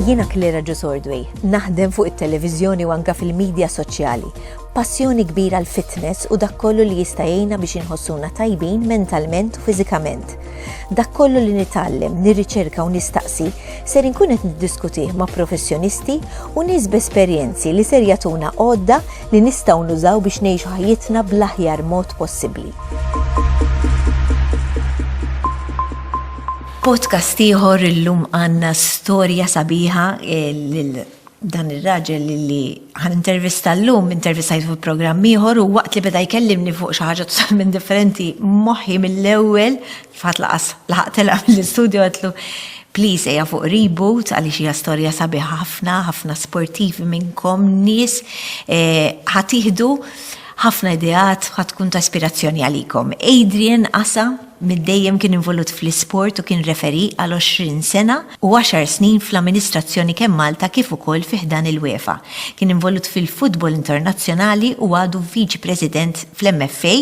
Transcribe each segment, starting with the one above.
Jiena Klera Ġusordwi, naħdem fuq it-televiżjoni u anka fil-medja soċjali. Passjoni kbira l-fitness u dak kollu li jista' jgħinna biex inħossuna tajbin mentalment u fiżikament. Dak kollu li nitgħallem, nirriċerka u nistaqsi ser inkun qed niddiskutih ma' professjonisti u nies b'esperjenzi li ser jagħtuna għodda li nistgħu nużaw biex ngħixu ħajjitna bl-aħjar mod possibbli. Podcast ieħor illum għandna storja sabiħa eh, lil dan ir-raġel li ħan intervista l-lum, intervistajt fuq programm ieħor u waqt li beda jkellimni fuq xi ħaġa totalment differenti moħħi mill-ewwel F'ħadd laqas laħaq telaq mill-istudju għedtlu, Please ejja fuq Reboot għaliex hija storja sabiħa ħafna, ħafna sportivi minnkom nies ħa tieħdu ħafna ideat ħa tkun ta' ispirazzjoni għalikom. Adrian Asa minn dejjem kien involut fl-isport u kien referee għal 20 sena u għaxar snin fl-amministrazzjoni kemm Malta kif ukoll fi ħdan il-UEFA. Kien involut fil-futbol internazzjonali u għadu viċi president fl-MFA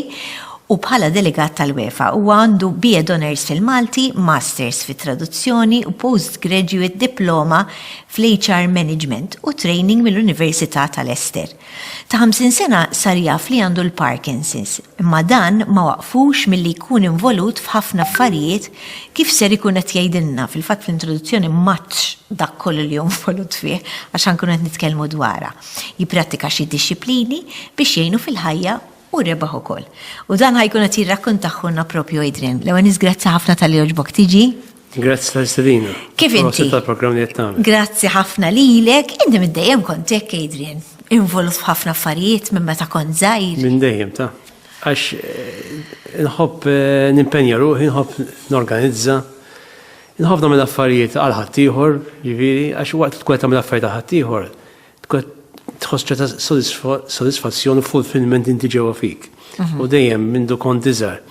u bħala delegat tal-UEFA huwa għandu BA d'Honours fil-Malti, Masters fit-Traduzzjoni u Postgraduate Diploma fl-HR Management u Training mill-Università ta' Leicester. Ta' 50 sena sar jaf li għandu l-Parkinson's, imma dan ma waqqfux milli jkun involut f'ħafna affarijiet kif ser ikun qed jgħidilna, fil-fatt fl-introduzzjoni m'għadx dak kollu li hu involut fih għax ħa nkunu qed nitkellmu dwarha. Jipprattika xi dixxiplini biex jgħinu fil-ħajja, Hu rebaħ ukoll. U dan ħa jkun qed jirrakkontaħħulna proprju Adrian. L-ewwel nies grazzi ħafna talli għoġbok tiġi. Grazzi tal-istedina. Kif inti? Grazzi tal-programm li qed tagħmel. Grazzi ħafna lilek. Inti minn dejjem kont hekk Adrian. Involut f'ħafna affarijiet minn meta kont żgħir. Minn dejjem ta' għax eh, nħobb eh, nimpenja ruħi, nħobb norganizza, nħobb nagħmel affarijiet għal ħaddieħor, ġifieri, għax waqt tkun tagħmel affarijiet għal ħaddieħor, Tkun qed tħoss ċerta sodisfazzjon u fulfillment inti ġewwa fik. U dejjem mindu kont iżgħar.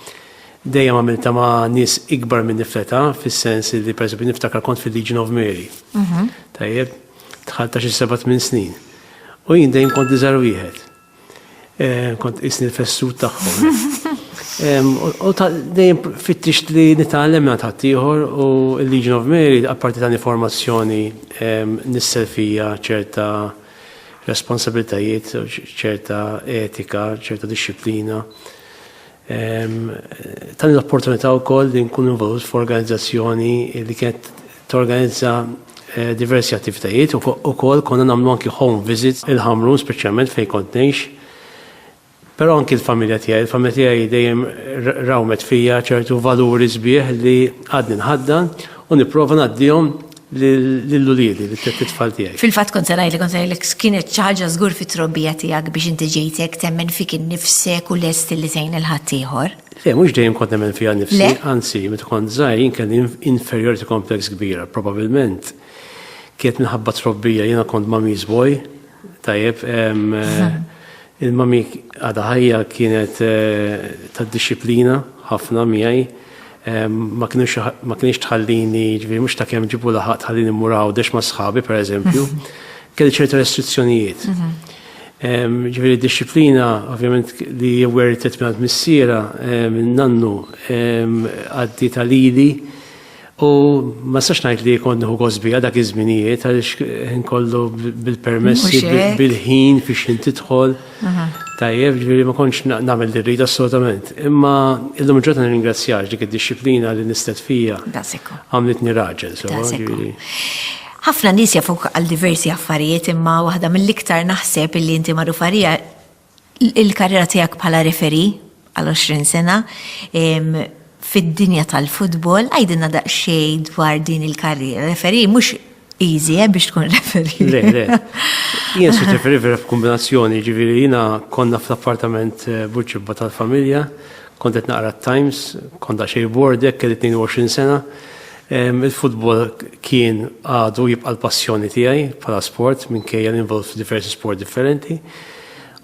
Dejjem għamilta ma' nies ikbar minni fl-età, fis-sens li pereżempju niftakar kont fil-Legion of Mary. Tajjeb? Dħalt ta' xi seba' tmien snin. U jien dejjem kont l-iżgħar wieħed. Eh, kont isni l-fessu taħħom. U dejjem fittix li nitgħallem minn ħaddieħor u l-Legion of Mary apparti ta' informazzjoni nissel fija ċerta responsabilitajiet, ċerta etika, ċerta disciplina. Tani l-opportunità wkoll li nkun involut f'organizzazzjoni li kienet torganizza eh, diversi attivitajiet u ukoll konna nagħmlu anki home visits il-ħamru speċjalment fejn kont ngħix. Però anki l-familja tiegħi, il-familja tiegħi dejjem rawmet fija ċertu valuri sbieħ li għadni nħaddan u nipprova ngħaddihom Lil uliedi, lit-tfal tiegħi. Fil-fatt kont se ngħidlek, kont se ngħidlek kienet xi ħaġa żgur fit-trobbija tiegħek biex inti ġejt hekk temmen fik innifsek u lest li tgħin lil ħaddieħor. Le, mhux dejjem kont nemmen fija nnifsi, anzi, meta kont żgħir jien kelli inferiority complex kbira. Probabbilment kienet minħabba trobbija jiena kont mummy's boy, tajjeb, il-mummy għadha ħajja kienet eh, tad-dixxiplina ħafna miegħi. Ma kinux ma kienx tħallini, ġifieri mhux ta' kemm ġibu laħaq tħallini mmur għawdex ma' sħabi pereżempju. Kelli ċerta restrizzjonijiet. Ġifieri d-dixxiplina ovvjament li wertet mingħand missiera minn nannu għaddi ta' lili u ma sax ngħid li kont nieħu gosbija dak iż-żminijiet għaliex ħin kollu bil-permessi bil-ħin fiex ħin tidħol. Tajjeb, ġviri ma konċ namel dirrida assolutament. Imma illum ġota nirringrazzjax dik id-disciplina li nistet fija. Daseku. Għamlitni raġel, so. Ħafna nis jafuk għal diversi affarijiet imma waħda mill-iktar naħseb illi inti marrufarija il-karriera tijak bħala referi għal 20 sena fid-dinja tal-futbol, għajdinna daqxej dwar din il-karriera. Referi, mux easy, eh, biex tkun referi. Le, le. Jien se referi vera f'kombinazzjoni, ġiviri, jina konna fl-appartament eh, buċibba tal-familja, kontet naqra Times, konta xej bordek, kelli 22 sena. Il-futbol kien għadu jibqa l-passjoni tiegħi bħala sport minkejja l-involved f'diversi sport differenti.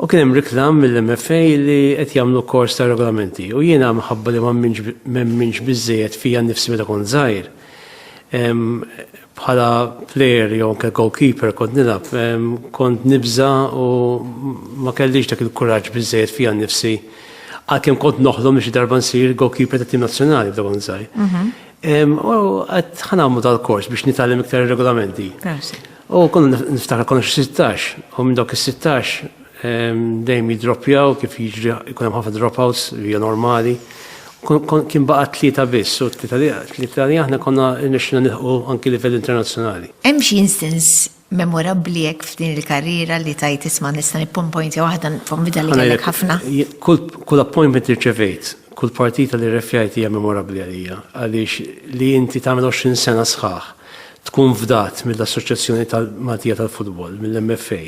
U kien hemm riklam mill-MFA li qed jagħmlu kors ta' regolamenti. U jiena minħabba li m'hemminx biżejjed fija nnifsi meta kont żgħir. Bħala plejer jew anke goalkeeper kont nilgħab, kont nibża u ma kellix dak il-kuraġġ biżejjed fija nnifsi. Għalkemm kont noħlom li xi darba nsir goalkeeper ta' tim nazzjonali f'dak kont żgħir. Mhm. U qed ħanamlu dal-kors biex nitgħallem iktar regolamenti. U kon niftakar konna xi 16, u minn dawk is-16 ehm, dejjem jidroppjaw kif jiġri jkun hemm ħafna dropouts li hija normali. Kien baqa' tlieta biss, u tlieta li aħna konna nixxina nilħu anki livell internazzjonali. Hemm xi instance memorabbli hekk f'din il-karriera li tajt isma' nista' nippompojntja waħda konvida li kellek ħafna. Kull appointment irċevejt, kull partita li refjajt hija memorabbli għalija, għaliex li inti tagħmel 20 sena sħaħ tkun fdat mill-Assoċjazzjoni tal-Maltija tal-Futbol, mill-MFA,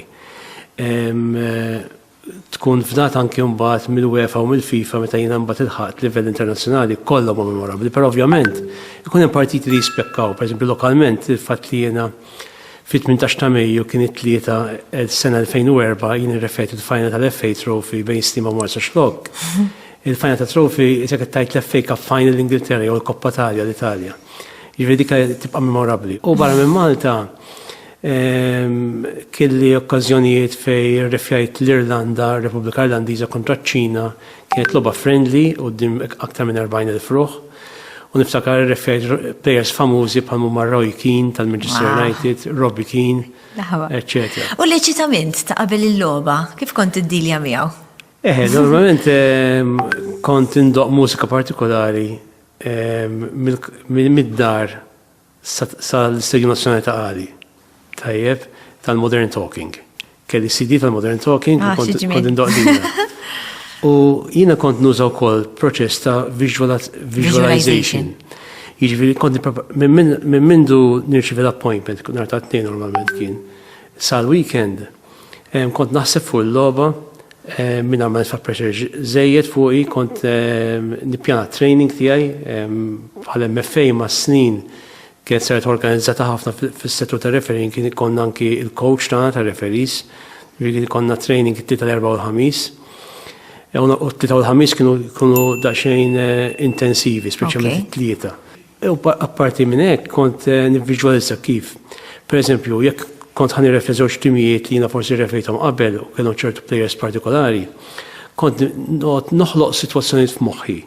tkun fdat anki mbagħad mill-UEFA u mill-FIFA meta jiena mbagħad ilħaqt livell internazzjonali kollha ma' memorabbli, però ovvjament ikun hemm partiti li jispekkaw, pereżempju lokalment il-fatt li jiena fit-18 ta' Mejju kien it-tlieta sena 2004 jien irrefejt il-final tal-FA Trophy bejn Stima Marsa Xlok. Il-final ta' Trophy isek tajt l-FA Cup final l-Ingilterra jew l-Koppa Talja l-Italja. Jiġri dik tibqa' memorabbli. U barra minn Malta kelli okkażjonijiet fej irrefjajt l-Irlanda, Repubblika Irlandiża kontra ċ-Ċina, kienet logħba friendly u din aktar minn 40,000 fruħ. U niftakar irrefjajt players famużi bħal mumma Roy Keane tal-Manchester United, Robbie Keane, etc. U l-eċitament ta' qabel il-logħba, kif kont iddilja miegħu? Eħe, normalment kont indoq mużika partikolari mid-dar sal-Istedju Nazzjonali ta' Qali. Tajjeb, tal-Modern Talking. Kelli CD tal-Modern Talking, ah, kont indoqdina. U jina kont nuża wkoll proċess ta' visualization. Jiġifieri kont minn mindu nirċivi l-appointment, nhar ta' tnejn normalment kien, sal-weekend Kont naħseb fuq il-logħba minn għamel fa' pressure żejjed fuqi kont nippjana training tiegħi bħal MFA ma' snin kienet saret organizzata ħafna fis-settur ta' referin kien konna anki il-coach tagħna ta' referis kien konna training it-tlieta l-erba' u l-ħamis. U t-tlieta u l-ħamis kienu daqsxejn intensivi, speċjalment it-tlieta. U apparti minn hekk kont nivviġwalizza kif, pereżempju, jekk kont ħa nirrefri żewġ timijiet li jiena forsi rrefrejthom qabel u kellhom ċertu plejers partikolari, kont noqgħod noħloq sitwazzjonijiet f'moħħi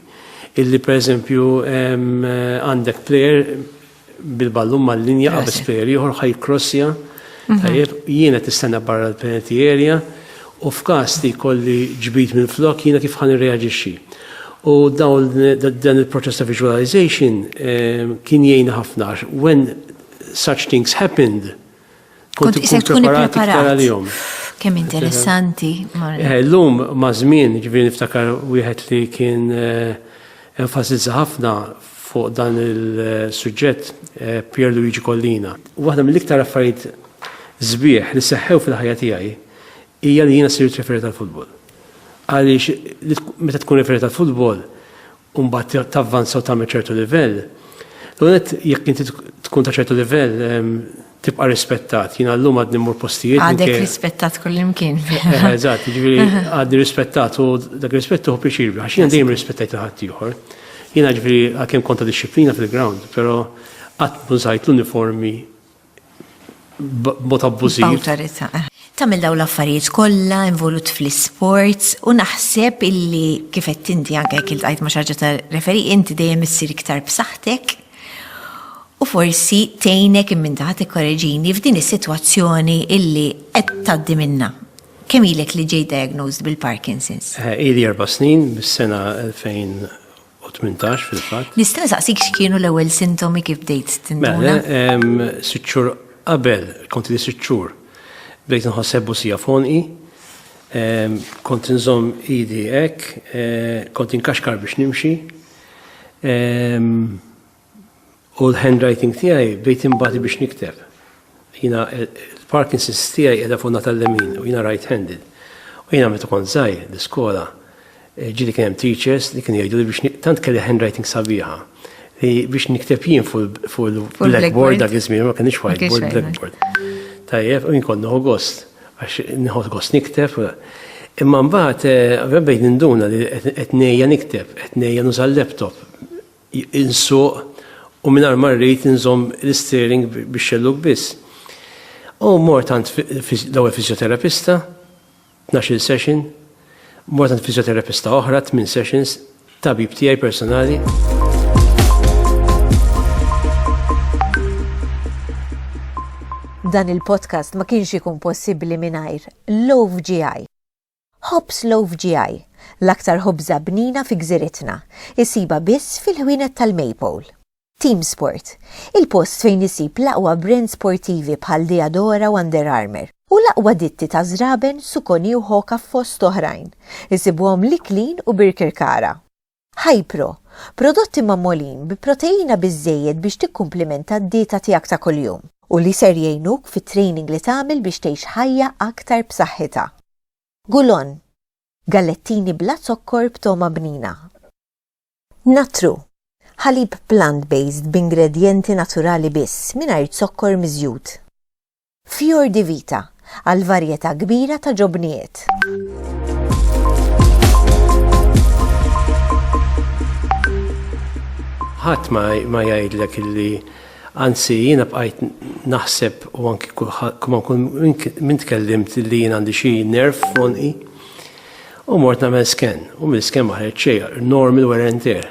illi pereżempju għandek plejer bil-ballun mal-linja qabeż plejer ieħor ħa jikkrossja, tajjeb, jien qed nistenna barra l-penalty area, u f'każ li jkolli ġbid minflok jiena kif ħa nirreaġixxi. U dawn dan il-proċess ta' visualization ehm, kien jgħinna ħafna għax when such things happened kont ikun preparat iktar għalihom. Kemm interessanti. Eh, l-lum ma' żmien ġifieri niftakar wieħed li kien eh, enfasizza ħafna fuq dan il-suġġett eh, Pier Luigi Collina. Waħda mill-iktar affarijiet zbieħ li seħħew fil-ħajja tiegħi hija li jiena sirt referee tal-futbol. Għaliex meta tkun referee tal-futbol u mbagħad tavvanza u tagħmel ċertu livell, l-għonet jekk inti tkun ta' ċertu livell ehm, tibqa' rispettat. Jiena llum għadni mmur postijiet. Għadek rispettat kullimkien. Eh, eżatt, ġifieri għadni rispettat u dak rispettu hu pjaċir għax jiena dejjem rispettajt ħadd ieħor. Jiena ġifieri għalkemm konta disċiplina fil-ground, però qatt mużajt l-uniformi b'mod abbużiv. B'awtorità. Tagħmel dawn l-affarijiet kollha, involut fl-isports, u naħseb illi kif għedt inti anke jekk iltqajt ma' xi ħaġa ta' referee, inti dejjem issir iktar b'saħħtek u forsi tgħinek imma inti ħa tikkoreġini f'din is-sitwazzjoni illi qed tgħaddi minnha. Kemm ilek li ġejt diagnosed bil-Parkinson's? Ili erba' snin, mis-sena 2018 fil-fatt. Nista' nsaqsik x'kienu l-ewwel sintomi kif bdejt tinduna? Mela, sitt xhur qabel, kont li sitt xhur, bdejt nħoss ħebbusija f'għonqi, kont inżomm idi hekk, kont inkaxkar biex nimxi. U l-handwriting tiegħi bdejt imbati biex nikteb. Jiena l-Parkinson's tiegħi qiegħda fuq nata l-lemin u jiena right-handed. U jiena meta kont żgħir l-iskola eh, ġieli kien hemm teachers li kienu jgħidu li biex tant kelli handwriting sabiħa li biex nikteb jien fuq il-blackboard dak iż-żmien ma kienx whiteboard blackboard. Tajjeb, u jien kont noħu gost għax nħod gost nikteb. Imma mbagħad eh, bejn ninduna li qed ngħejja nikteb, qed ngħejja nuża l-laptop insuq u mingħajr ma rrid inżomm l-isteering bix-xellug biss. U mort għand l-ewwel fisioterapista, tnax-il session, mort għand fisioterapista oħra, tmien sessions, tabib tiegħi personali. Dan il-podcast ma kienx ikun possibbli mingħajr Love GI. Ħobż loaf GI, l-aktar ħobża bnina fi gżiritna, issibha biss fil-ħwienet tal-Maypole. Team Sport, il-post fejn issib l-aqwa brands sportivi bħal Diadora u Under Armour, u l-aqwa ditti ta' żraben, Suconi u Hoka fost oħrajn, isibuhom l-Iklin u Birkirkara. Hi-Pro, prodotti magħmolin bi proteina biżżejjed biex tikkumplimenta d-dieta tiegħek ta' kuljum u li ser jgħinuk fit-training li tagħmel biex tgħix ħajja aktar b'saħħitha. Gulon, gallettini bla zokkor b'togħma bnina. Natru, ħalib plant-based b'ingredjenti naturali biss, mingħajr zokkor miżjud. Fior di Vita, għal varjetà kbira ta' ġobnijiet. ħadd ma jgħidlek illi anzi jiena bqajt naħseb u anki kulħadd minn tkellimt li jien għandi xi nerf fonqi u mort nagħmel sken u mill-sken ma ħreġ xejn normal wear and tear.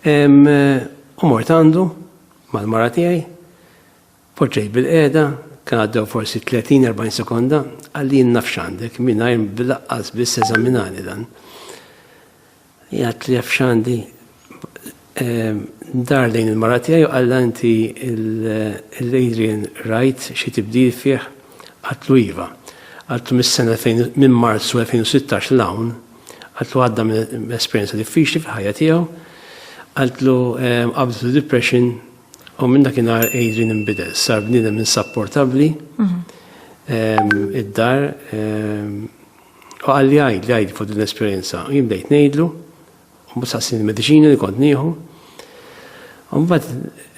U mort għandu mal-mara tiegħi, poġġejt bil-qiegħda, kien għaddew forsi 30-40 sekonda, għalli naf x'għandek, mingħajr bilaqqas biss eżaminani dan. Jgħat li jaf x'għandi dar lejn il-mara tiegħi u qalla inti l-Adrian rajt xi tibdil fih għatlu iva. Għatlu mis-sena minn Marzu 2016 l-hawn Għaltlu għadda minn esperjenza diffiċli fil-ħajja tiegħu, għaltlu ehm, qabdu depression u minn dak inhar Adrian imbidel, sar bniedem insapportabbli mhm. ehm, id-dar ehm, u għalli għajd li għajd fuq din l-esperjenza. Jien bdejt ngħidlu, u msassin il-mediċina li kont nieħu. Umbat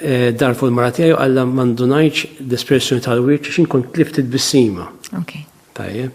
eh, dar fuq il-mara tiegħi għalla mandunajċ l-espressjoni tal-wiċċ xin kont tlift il-bissima. Tajjeb.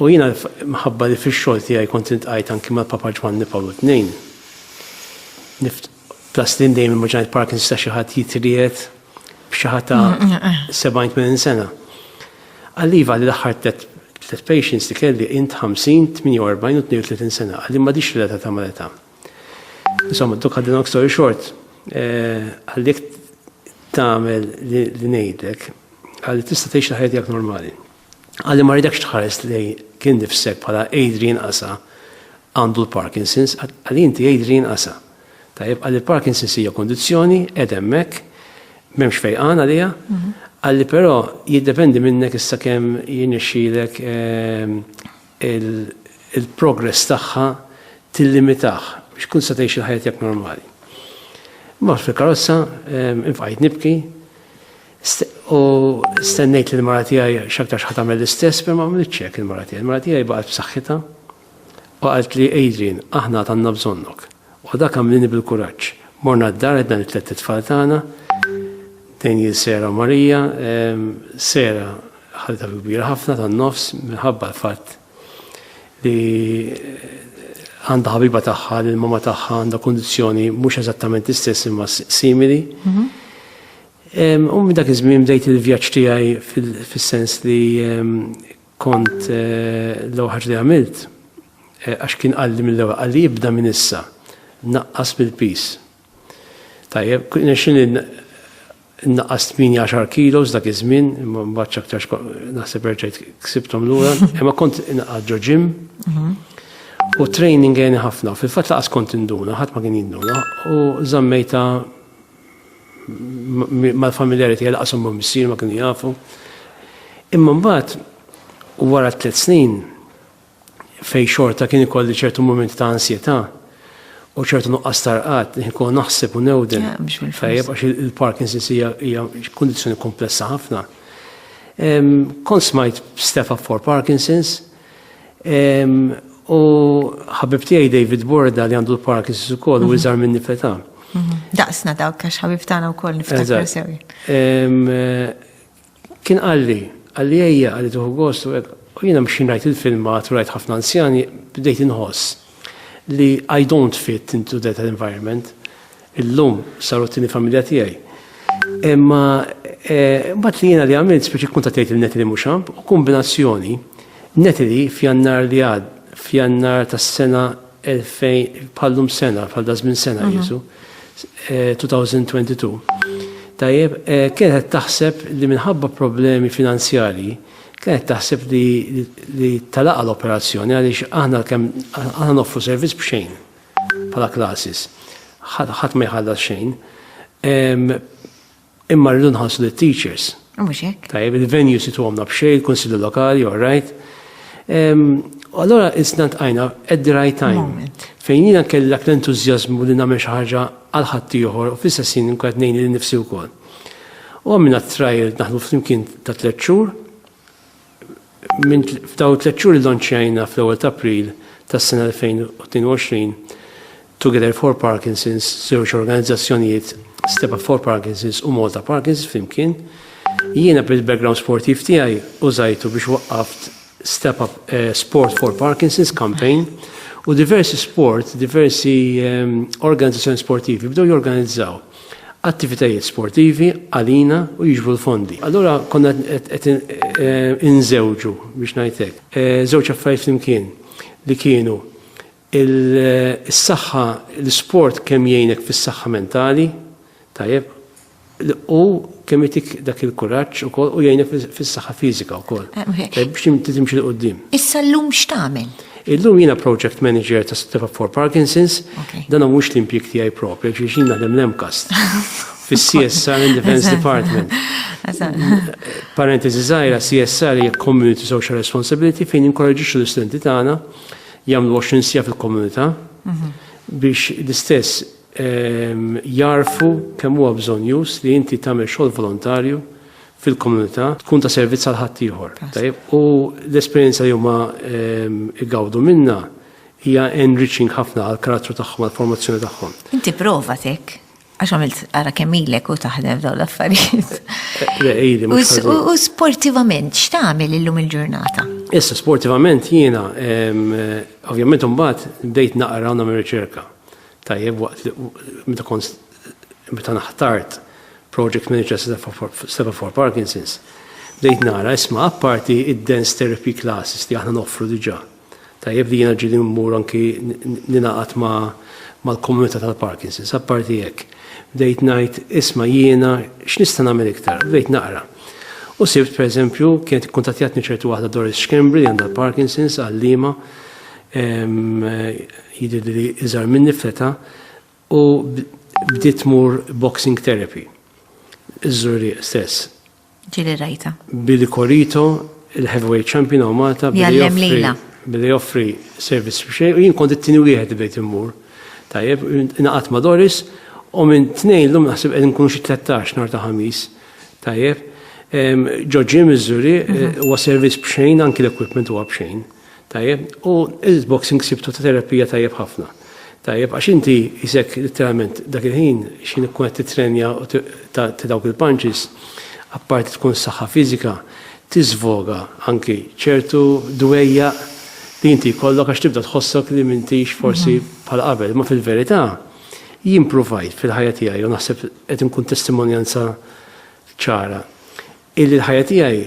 U jiena minħabba li fix-xogħol tiegħi kont intqajt anki mal-Papa Ġwanni Pawlu Tnejn, nift, plus li dejjem immaġinajt Parkinson ta' xi ħadd jitriegħed b'xi ħadd ta' 70-80 sena. Qalli iva li l-aħħar tliet tliet patients li kelli int 50, 48 u 32 sena, qalli m'għadix relatata mal-età. Insomma, to cut the long story short, qalli jekk tagħmel li ngħidlek, qalli tista' tgħix il-ħajja tiegħek normali. Għalli ma ridekx tħares li kien nifsek bħala Adrian Asa għandu l-Parkinson's, għalli inti Adrian Asa. Tajjeb, għalli l-Parkinson's hija kondizzjoni, edemmek, memx fejqan għalija, mhm. għalli però jiddependi minnek issa kemm jinixxilek ehm, il-progress tagħha tillimitaħ biex kun sa tgħix il-ħajja tiegħek normali. Ma fil-karozza ehm, infqajt nibki, U stennejt li l-mara tiegħi x'aktarx ħa tagħmel l-istess, per ma għamlitx hekk il-mara tiegħi. Il-mara tiegħi baqgħet b'saħħitha u qalt li Adrian, aħna għad bżonnok. U dak għamlini bil-kuraġġ. Morna d-dar għedna li tlet tfal tagħna, Daniel, Sera u Marija. Ehm, Sera ħalta kbira ħafna tan-nofs minħabba l-fatt li għandha ħabiba tagħha li l-mama tagħha għandha kundizzjoni mhux eżattament istess imma simili. Mhm. U minn dak iż-żmien bdejt il-vjaġġ tiegħi fis-sens li kont eh, l-ewwel ħaġa li għamilt eh, għax kien qalli mill-ewwel qalli jibda minn issa naqqas bil-pis. Tajjeb, nexxin naqqas 18 kilos dak iż-żmien, imma mbagħad aktarx naħseb erġajt ksibthom lura, imma kont inqadd ġo ġim. Mhm. U training għeni ħafna, fil-fatt laqas kont induna, ħadd ma kien jinduna, u żammejta mal-familjari tiegħi laqas ma missier ma kienu jafu. Imma mbagħad wara tliet snin fej xorta kien ikolli ċertu moment ta' ansjetà u ċertu nuqqas tarqat, nkun naħseb u newden. Tajjeb, għax il-Parkinson's hija kondizjoni komplessa ħafna. Kon smajt Stefan for Parkinson's, U ħabib tiegħi David Borda li għandu l-Parkinson's ukoll u mhm. iżgħar minni feta. Mhm. Daqsna dawk għax ħabib tagħna wkoll niftakar sewi. Kien qalli, qalli ejja qalli tuħu gost u jiena mxin rajt il-filmat u rajt ħafna anzjani bdejt inħoss li I don't fit into that environment. Illum saru t-tieni familja tiegħi. Imma eh, mbagħad li jiena li għamilt speċi kuntatejt il-neti li mhux u kombinazzjoni neti li f'jannar li għad f'jannar tas-sena 2000 bħallum sena, bħal dażmin sena mhm. jisu, 2022. Eh, Tajjeb, eh, kienet taħseb li minħabba problemi finanzjali, kienet taħseb li talaqa l-operazzjoni għaliex aħna kemm aħna noffru servizz b'xejn. bħala classes. Ħadd ma jħallas xejn. Imma rridu nħassu li teachers. Mhux hekk. Tajjeb, il-venue situ għamna b'xej, il-Kunsilli Lokali, all right. Allora isna tqajna at the right time. Fejn jiena kellek l-entużjażmu li nagħmel xi ħaġa għal ħadd ieħor u fl-istess jien nkun ngħin li nifsi wkoll. U għamilna trial naħlu flimkien ta' tliet xhur. Minn f'dawn it-tliet xhur illanċjajna fl-ewwel ta' April tas-sena 2022 Together for Parkinson's, żewġ organizzazzjonijiet, Step-Up for Parkinson's u Malta Parkinson's flimkien. Jiena bil-background sportiv tiegħi użajtu biex waqqaft Step-Up Sport for Parkinson's campaign u diversi sport, diversi organizzazzjoni sportivi bdew jorganizzaw. attivitajiet sportivi għalina u jiġbru l-fondi. Allura konna qed inżewġu biex ngħid hekk. Żewġ affarijiet flimkien li kienu il-saħħa l-isport kemm jgħinek fis-saħħa mentali, tajjeb, u kemm itik dak il-kuraġġ ukoll u jgħinek fis-saħħa fiżika wkoll. Biex timxi l-qudiem. Issa llum x'tagħmel? Illum jiena project manager ta' Sittiva for Parkinson's, dan mhux l-impjeg tiegħi propri, għax jien naħdem l-MCAST fis-CSR in Defense Department. Parentesi żgħira, CSR hija Community Social Responsibility fejn inkoraġġixxu l-istudenti tagħna jagħmlu 20 sija fil-komunità mhm. biex l-istess jarfu kemm huwa bżonjuż li inti tagħmel xogħol volontarju fil-komunità tkun ta' servizz għal ħaddieħor. U l-esperjenza li huma igawdu minna hija enriching ħafna għal karattru tagħhom għal formazzjoni tagħhom. Inti prova tek, għax għamilt għara kemmilek u taħdem daw l-affarijiet. U sportivament, x'tagħmel illum il-ġurnata? Issa, sportivament jiena, ovvjament mbagħad bdejt naqra u nagħmel riċerka. tajjeb waqt li meta kont meta naħtart project manager seba for Parkinson's, bdejt nara isma' apparti id-dance therapy classes li aħna noffru diġà. Tajjeb li jiena ġieli mmur anki ninaqat ma' mal-komunità tal-Parkinson's, apparti hekk. Bdejt ngħid isma' jiena x'nista' nagħmel iktar, bdejt naqra. U sibt pereżempju kienet ikkuntattjatni ċertu waħda Doris Schembri li għandha l-Parkinson's għalliema Jidhirli li iżgħar minni f'età u bdiet tmur boxing therapy. Iż-żurrieq stess. Ġieli rajta. Billy Corito, il-heavyweight champion hawn Malta, billi joffri servizz biex xejn u jien kont it-tieni wieħed bdejt immur. Tajjeb, ingħaqadt ma' Doris u minn tnejn llum naħseb qed nkunu xi 13 nhar ta' ħamis. Tajjeb. Ġo ġim iż-żurrieq huwa servizz b'xejn anki l-equipment huwa b'xejn. Tajjeb, u il-boxing sibtu ta' terapija tajjeb ħafna. Tajjeb, għax inti jisek literalment dak il-ħin xin ikkun qed titrenja u ta' dawk il-punches, apparti tkun saħħa fiżika, tiżvoga anki ċertu dwejja li inti jkollok għax tibda tħossok li m'intix forsi bħal qabel. Ma fil-verità, jien pruvajt fil-ħajja tiegħi u naħseb qed inkun testimonjanza ċara illi l-ħajja tiegħi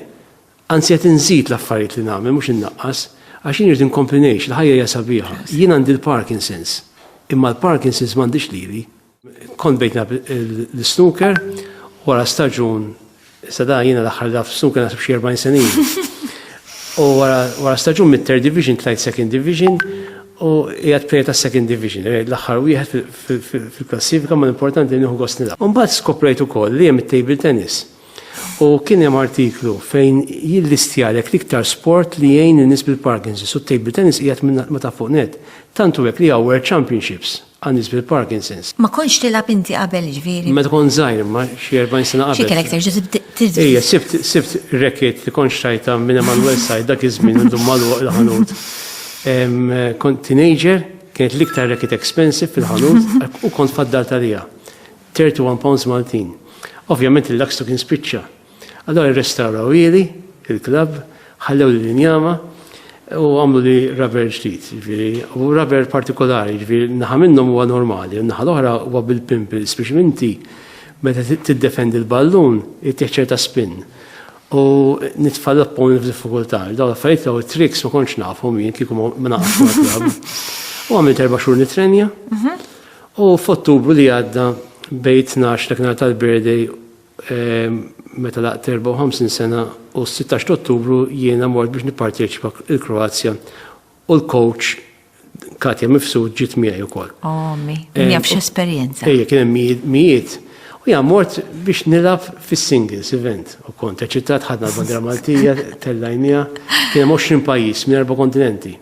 Anzi qed inżid l-affarijiet li nagħmel mhux innaqqas, għax jien irrid inkompli ngħix, il-ħajja hija sabiħa. Jien għandi l-Parkinson's, imma l-Parkinson's m'għandhiex lili. Kont bdejt nilgħab l-snooker wara staġun, issa da jiena l-aħħar laf snooker naħseb xi 40 sena ilu. U wara staġun mit-third division tlajt second division u qiegħed player ta' second division, l-aħħar wieħed fil-klassifika ma l-importanti nieħu gost nilgħab. Imbagħad skoprejt ukoll li hemm it-table tennis. U kien hemm artiklu fejn jillistjalek l-iktar sport li jgħin in-nies bil-Parkinson's u t-table tennis qiegħed minn ma ta' fuq net. Tantu hekk li hawn World Championships għal nies bil-Parkinson's. Ma kontx tilgħab inti qabel jiġifieri? Meta kont żgħir imma xi 40 sena qabel. Xi kellek terġa' tibda? Ejja, sibt sibt racket li kont xtrajtha minn Emanuel Said dak iż-żmien illum magħluq il-ħanut. Kont teenager, kienet l-iktar racket expensive fil-ħanut u kont faddalt għaliha. 31 pounds Maltin. Ovvjament il-lakstu kien spiċċa. Allora rrestawraw ili, il-klabb, ħallew li l-injama u għamlu li rubber ġdid, ġviri, u rubber partikolari, ġviri, naħa minnhom huwa normali, u naħa l-oħra huwa bil-pimples biex minti meta tiddefendi l-ballun ittieħ ċerta spin. U nitfall appon f'diffikultà, daw l-affarijiet u tricks ma kontx nafhom jien kieku ma naqgħodx U għamilt erba' xhur nitrenja. Mhm. U f'Ottubru li għadda bejt tnax dak nhar tal-birthday ehm, meta laqt 54 sena u s-16 t'Ottubru jiena mort biex nipparteċipa il-Kroazja u l-coach Katja Mifsud ġiet miegħi wkoll. Omi, oh, eh, jaf x'esperjenza. Ejja kien hemm mijiet u jgħam mort biex nilgħab fis-singles event u kont eċitat ħadna l-bandra Maltija tellajnija kien hemm 20 pajjiż minn erba' kontinenti.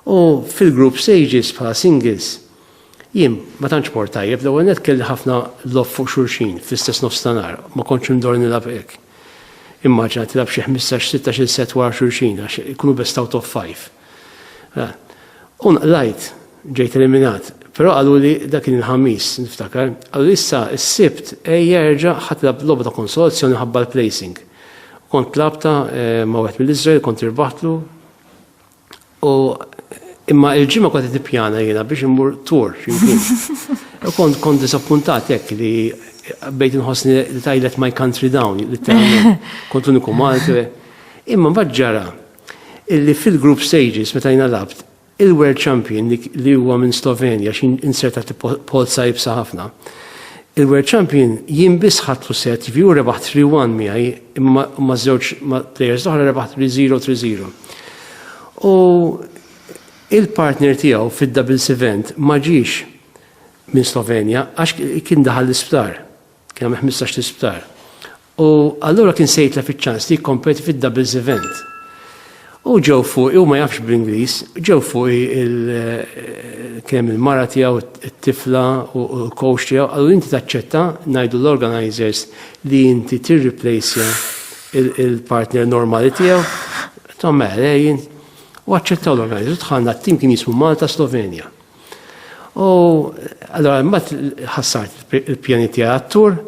U fil-group stages bħala singles Jien ma tantx mort tajjeb, l-ewwel nett kelli ħafna logħob fuq xulxin fl-istess nofstanhar, ma kontx indur nilgħab hekk. Immaġina tilgħab xi ħmistax, sittax-il sett wara xulxin għax ikunu best out of five. Mela, u nqlajt, ġejt eliminat, però qaluli dak kien il-Ħamis, niftakar, qaluli issa s-Sibt ejja erġa' ħa tilgħab logħba ta' konsolazzjoni ħabba l-placing. Kont tlabtha eh, ma' wieħed mill-Iżrael, kont irbaħtlu, U imma il-ġimgħa kont qed nippjana jiena biex immur tur x'imkien. U kont kont disappuntat hekk li bejt inħossni li tajlet my country down, li kont l-uniku Malti. Imma mbagħad ġara illi fil-group stages meta jiena labt, il-world champion li huwa minn Slovenja x'in insertat pozza ibsa ħafna. Il-World Champion jien biss ħadtu set jiġifieri u rebaħ 3-1 miegħi imma ma' żewġ ma' players l-oħra rebaħ 3-0 3-0. U il-partner tiegħu fid-doubles event ma ġiex minn Slovenja għax kien daħal l-isptar. Kien hemm 15 l-isptar. U allura kien se jitlef iċ-ċans li jikkompeti fid-doubles event. U ġew fuq, u ma jafx bl-Ingliż, ġew fuq il-kem il-mara tiegħu, it-tifla u l-coach tiegħu, għallu inti taċċetta ngħidu l-organizers li inti tirriplejsja il-partner normali tiegħu. Tom għalejn, u għacċettaw l-organizers, tħanna t-tim kien jismu Malta Slovenja. U allora mbagħad ħassart il-pjani tiegħi għattur,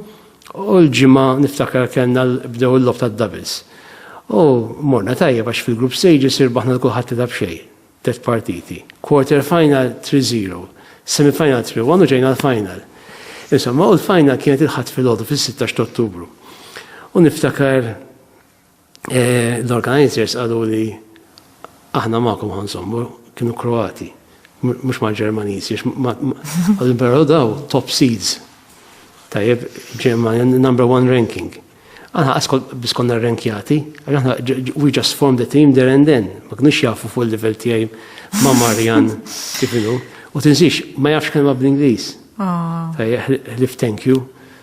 U l-ġimgħa niftakar kellna bdew il-lob tad-doubles. U morna tajjeb għax fil-group stages irbaħna l-kulħadd tilha b'xejn, tliet partiti. Quarter final 3-0, semi final 3-1 u ġejna l-final. Insomma, u l-final kienet il-Ħadd filgħodu fis-16 t'Ottubru. U niftakar L-organizers qalu li aħna magħkom ħansommu kienu Kroati, mhux ma' Ġermaniżi, għal però daw top seeds. Tajjeb, Ġermanja number one ranking. Aħna għaskol biss konna rankjati, aħna we just formed the team there and then, ma kienux jafu fuq il-level tiegħi ma' Marjan kif inhu. U tinsiex, ma jafx kelma bl-Ingliż. Ah. Tajjeb, ħlif thank you.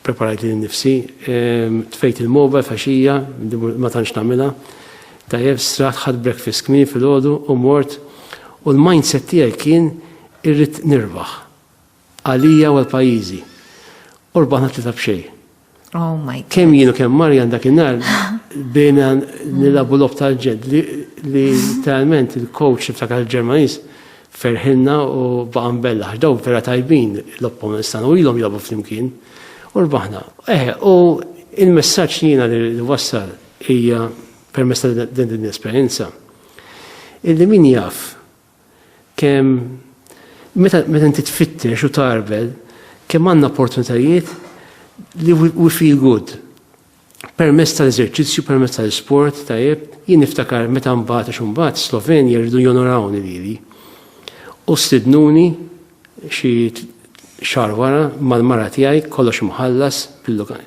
Preparajt li nifsi, tfejt il-moba faxija, ma tantx nagħmilha. Tajjeb, straħt ħadd breakfast kmin fil-ħodu u mort u l-mindset tiegħi kien irrid nirbaħ. Għalija u għal-pajjiżi. U rbaħna tlita b'xej. Oh my God. Kemm jienu kemm Marjan dak in-nar bejna nilabu lob tal-ġed li talment il-coach ta' l-Ġermanis Ferħilna u baqa' mbella, għax daw vera tajbin l-opponents tagħna u ilhom jilagħbu flimkien u rbaħna. Eh, u il-messaġġ li jiena li wassal hija permess ta' din din l-esperjenza. Illi min jaf kemm meta meta inti tfittex u tarbel kemm għandna opportunitajiet li we feel good. permezz tal-eżerċizzju, permezz tal-isport, tajjeb, jien niftakar meta mbagħad għax mbagħad Slovenja rridu jonorawni lili. U stidnuni xi xar wara mal-mara tiegħi kollox mħallas bil-lokal.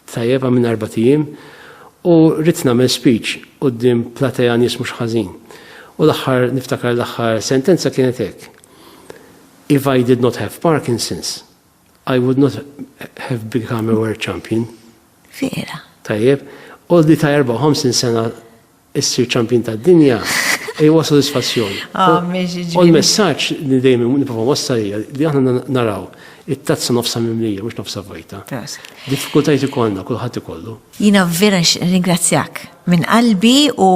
Tajjeb għamilna erba' tiem u rrid nagħmel speech quddiem platea nies mhux ħażin. U l-aħħar niftakar l-aħħar sentenza kienet hekk. If I did not have Parkinson's, I would not have become a world champion. Vera. Tajjeb, oldi ta' 54 sena issir champion ta' dinja, e huwa sodisfazzjon. Ah, u l-messaġġ li dejjem niprofa wassal li aħna naraw it-tazza nofsa mimlija mhux nofsa vojta. Diffikultajt ikollna kulħadd ikollu. Jina vera ringrazzjak minn qalbi u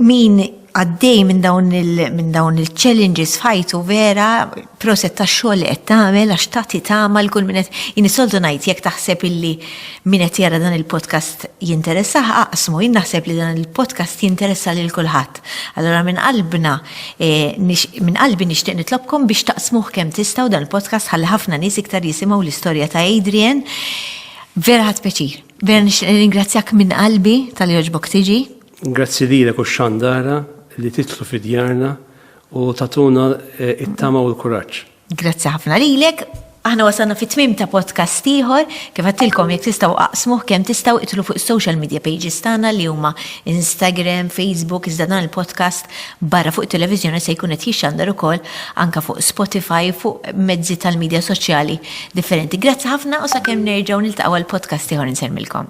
Min għaddej minn dawn minn dawn il-challenges f'ħajtu vera proset ta' xogħol qed tagħmel għax tagħti tagħma l-kull min qed inisoltu ngħid jekk taħseb illi min qed jara dan il-podcast jinteressa aqsmu jien naħseb li dan il-podcast jinteressa lil kulħadd. Allora minn qalbna eh, minn qalbi nixtieq nitlobkom biex taqsmuh kemm tistgħu dan il-podcast ħalli ħafna nies iktar jisimgħu l-istorja ta' Adrian. Vera ħadd peċir. Vera nixtieq ringrazzjak minn qalbi tal-joġbok tiġi. Grazzi lilek u x-xandara li titlu fi djarna u tatuna eh, it-tama u l-kuraġġ. Grazzi ħafna lilek. Aħna wasalna fit tmim ta' podcast ieħor, kif għattilkom jekk tistgħu aqsmuh kemm tistgħu itlu fuq social media pages tagħna li huma Instagram, Facebook, iżda dan il-podcast barra fuq televiżjoni se jkun qed jixxandar ukoll anka fuq Spotify fuq mezzi tal-medja soċjali differenti. Grazzi ħafna u sakemm nerġgħu niltaqgħu għal podcast ieħor insermilkom.